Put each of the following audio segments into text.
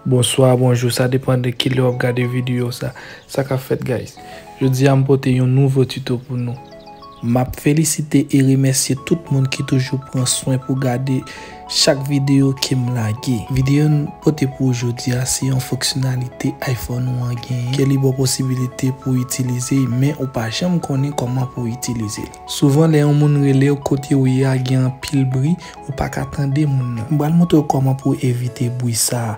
Bonswa, bonjou, sa depan de ki lè wap gade video sa. Sa kap fèt guys? Jodi a m pote yon nouvo tuto pou nou. Map felisite e remèsye tout moun ki toujou pran swen pou gade. Chak videyo kem lage. Videyo n pote pou ou jodi a se yon fonksyonalite iPhone ou an genyen ke li baw posibilite pou w itilize men ou pa janm konnen koman pou w itilize li. Souvan lè yon moun relew kote ou ye a gen anpil bri ou pa ka tande moun nan. M pral montre w koman pou w evite bri sa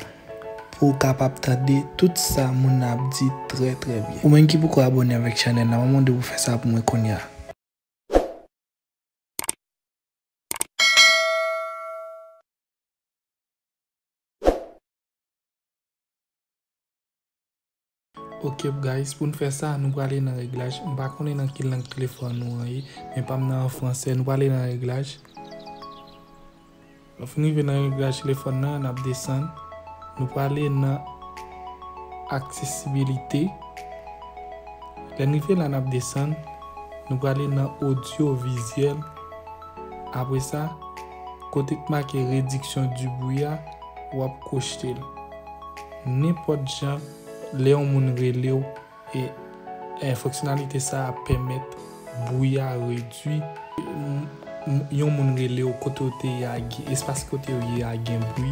pou w kapab tande tout sa moun nan ap di trè trè byen. Ou menm ki poko abone avèk chanèl la mwen mande w pou fè sa pou mwen kounya. Ok guys pou nou fè sa nou prale nan reglaj m pa konnen nan ki lang telefòn nou an ye men pa m nan an fransè nou prale nan reglaj lò fin rive nan reglaj telefòn nan n ap desann nou prale nan aksesibilite lè n rive la n ap desann nou prale nan odyo vizyèl Apre sa, kote k make Rediksyon di bwi a, w ap kochte l. Nenpòt jan, lè yon moun rele w e e fonksyonalite sa a pèmèt bwi a redui. Yon moun rele w kote w te ye a, espas kote w ye a gen bwi.